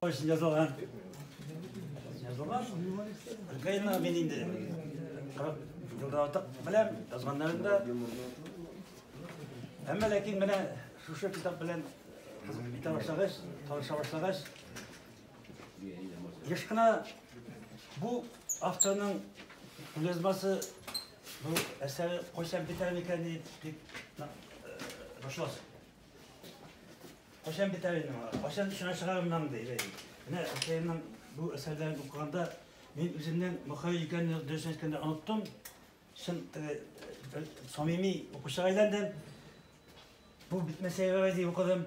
Очень язылган. Язылган. Гайна мен инде. Кырык елдан артык беләм, язганнарын да. Әмма ләкин менә шушы китап белән кызык битә башлагач, таныша башлагач, еш кына бу авторның язмасы бу әсәре кайчан бетәр микән дип дип башласың. Кашан битәр инде моңа. Кашан шуңа чыгарымнан ди. Менә Хәймнең бу әсәрләрен укыганда мин үземнең Мөхәй икәнне дөрес әйткәндә оныттым. Шын самими укучыга әйләндем. Бу битмәсә ярый ди укыдым.